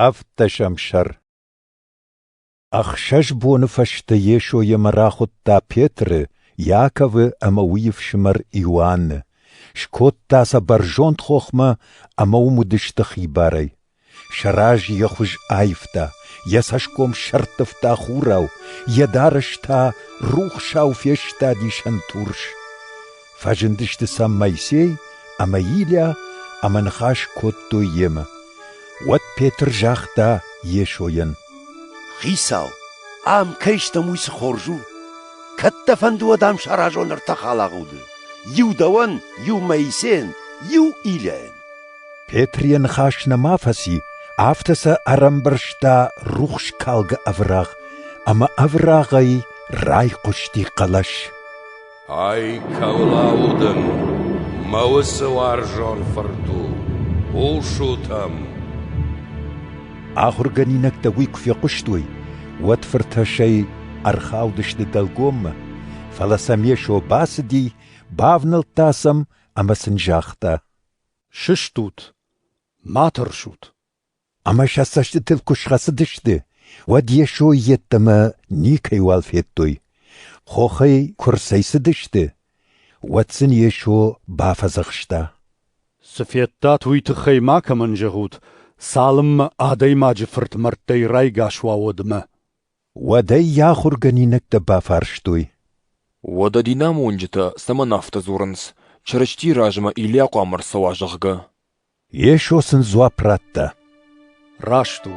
Ӕвддӕсӕм сӕр Ӕхсӕз боны фӕстӕ Йесо йемӕ рахуыдта Петры, Иаковы ӕмӕ уый ӕфсымӕр Иоанны. Скодта сӕ бӕрзонд хохмӕ ӕмӕ уым уыдысты хибарӕй. Сӕ раз йӕ хуыз аивта, йӕ цӕсгом сӕрттывта хурау, йӕ дарӕс та рухсау фестади сӕнтурс. Фӕзындысты сӕм Моисей ӕмӕ Илиа ӕмӕ ныхас кодтой йемӕ. Уӕд Петр загъта Йесойӕн: Хицау, ам кӕй стӕм, уый цы хорз у! Кӕд дӕ фӕнды, уӕд ам саразон ӕртӕ халагъуды: иу дӕуӕн, иу Моисейӕн, иу Илиайӕн. Петр йӕ ныхас нӕма фӕци, афтӕ сӕ ӕрӕмбӕрзта рухс калгӕ ӕврагъ, ӕмӕ ӕврагъӕй райхъуысти хъӕлӕс. Ай, кӕуылау дын мӕ уыцы уарзон фырт у, хъусут ӕм! Ахуыргӕнинӕгтӕ уый куы фехъуыстой, уӕд фыртӕссӕй ӕрхаудысты дӕлгоммӕ, фӕлӕ сӕм Йесо бацыди, бавнӕлдта сӕм ӕмӕ сын загъта: «Сыстут, ма тӕрсут. Ӕмӕ сӕ цӕстытыл куы схӕцыдысты, уӕд Йесо йеддӕмӕ никӕйуал федтой. Хохӕй куы рцӕйцыдысты, уӕд сын Йесо бафӕдзӕхста. «Цы федтат, уый тыххӕй макӕмӕн зӕгъут, цалынмӕ Адӕймаджы Фырт мӕрдтӕй райгас уа, уӕдмӕ». Уӕд ӕй йӕ ахуыргӕнинӕгтӕ бафарстой. «Уӕдӕ динамонджытӕ цӕмӕн афтӕ дзурынц, Чырыстийы размӕ Илийа хъуамӕ ӕрцӕуа, зӕгъгӕ?» Йесо сын дзуапп радта. Раст у.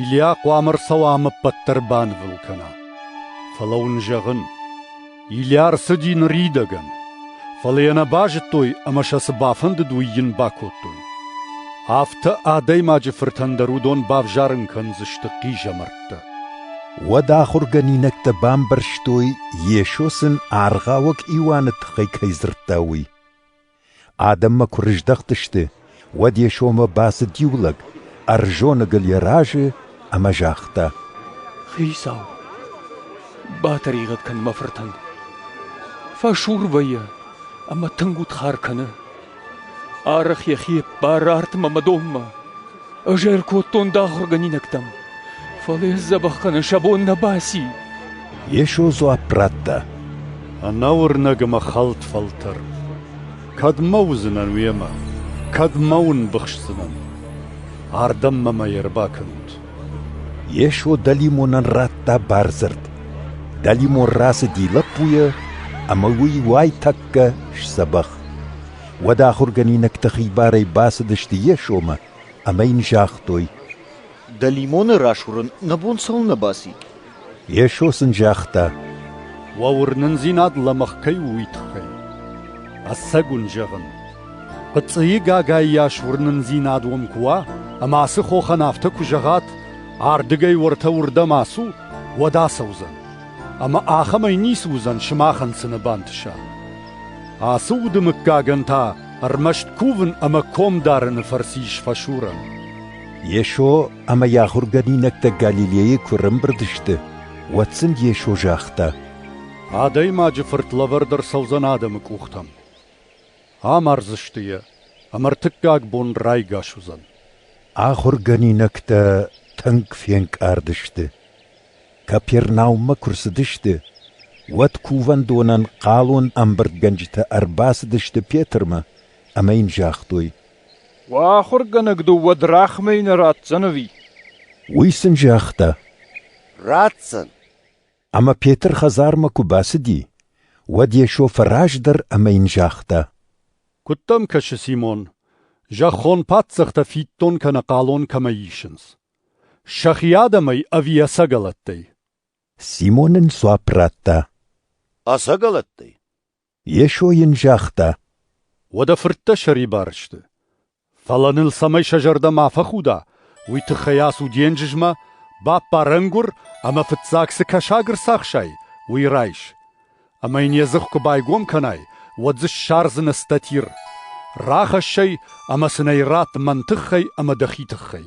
Илиа хъуамӕ ӕрцӕуа ӕмӕ ӕппӕт дӕр банывыл кӕна. Фӕлӕ уын зӕгъын, Илиа ӕрцыди ныридӕгӕн. Фӕлӕ йӕ нӕ базыдтой ӕмӕ сӕ цы бафӕндыд, уый йын бакодтой. Афтӕ адӕймаджы фыртӕн дӕр уыдон бавзарын кӕндзысты хъизӕмӕрттӕ. Уӕд ахуыргӕнинӕгтӕ бамбӕрстой, Йесо сын аргъауӕг Иоанны тыххӕй кӕй дзырдта, уый. Адӕммӕ куы рыздӕхтысты, уӕд йӕ сомы бацыд иу лӕг, ӕрзоныгыл йӕ разы ӕмӕ загъта: «Хицау, батӕригъӕд кӕн мӕ фыртӕн. фӕсур вӕййы ӕмӕ тынг удхар кӕны. арӕх йӕхи ӕппары артмӕ мӕ донмӕ. Ӕз ӕркодтон дӕ ахуыргӕнинӕгтӕм, фӕлӕ йӕ дзӕбӕх кӕнын сӕ бон нӕ баци. Йесо дзуапп радта. Ӕнӕуырнӕг ӕмӕ хӕлд фӕлтӕр. Кӕдмӕ уыдзынӕн уемӕ? Кӕдмӕ уын быхсдзынӕн? Ардӕм мӕмӕ ӕрбакӕнут. Йесо дӕлимонӕн радта бардзырд. Дӕлимон рацыди лӕппуйы, ӕмӕ уый уайтӕккӕ сдзӕбӕх. уӕд ахуыргӕнинӕгтӕ хибарӕй бацыдысты Йесомӕ ӕмӕ йын загътой: Дӕлимоны расуырын нӕ бон цӕуылнӕ баци? Йесо сын загъта: Уӕ уырнындзинад лӕмӕгъ кӕй у, уый тыххӕй. Ӕцӕг уын зӕгъын, хъыцъыйы гагай йас уырнындзинад уын куы уа, ӕмӕ ацы хохӕн афтӕ куы зӕгъат, ардыгӕй уӕртӕ уырдӕм ацу, уӕд ацӕудзӕн. Ӕмӕ ахӕмӕй ницы уыдзӕн сымахӕн цыны бантыса. Ацы уды мыггагӕн та ӕрмӕст кувын ӕмӕ ком дарыны фӕрцы ис фӕсурӕн. Йесо ӕмӕ йӕ ахуыргӕнинӕгтӕ Галилейы куы ӕрӕмбырд сты, уӕд сын Йесо загъта: Адӕймаджы Фырт лӕвӕрд ӕрцӕудзӕн адӕмы къухтӕм. Амардзысты йӕ, ӕмӕ ӕртыккаг бон райгас уыдзӕн. Ахуыргӕнинӕгтӕ тынг фенкъард сты. Капернауммӕ куы рцыдысты, уӕд кувӕндонӕн хъалон ӕмбырдгӕнджытӕ ӕрбацыдысты Петрмӕ ӕмӕ йын загътой: «Уӕ ахуыргӕнӕг дыл уӕд рахмӕ нӕ ратдзӕн ӕви?» Уый сын загъта: «Ратдзӕн». Ӕмӕ Петр хӕдзармӕ куы бацыди, уӕд Йесо фӕраздӕр ӕмӕ йын загъта: «Куыд дӕм кӕсы, Симон, зӕххон паддзӕхтӕ фиддон кӕнӕ хъалон кӕмӕй исынц? сӕхи адӕмӕй ӕви ӕцӕгӕлӕттӕй? Симон ын дзуапп радта. Ӕцӕгӕлӕттӕй? Йесо йын загъта. Уӕдӕ фырттӕ сӕрибар сты. Фӕлӕ ныл цӕмӕй сӕ зӕрдӕ ма фӕхуда, уый тыххӕй ацу денджызмӕ, баппар ӕнгуыр ӕмӕ фыццаг цы кӕсаг ӕрцахсай, уый райс. Ӕмӕ йын йӕ дзых куы байгом кӕнай, уӕд дзы ссардзынӕ статир. Рахӕсс ӕй ӕмӕ сын ӕй ратт мӕн тыххӕй ӕмӕ дӕхи тыххӕй.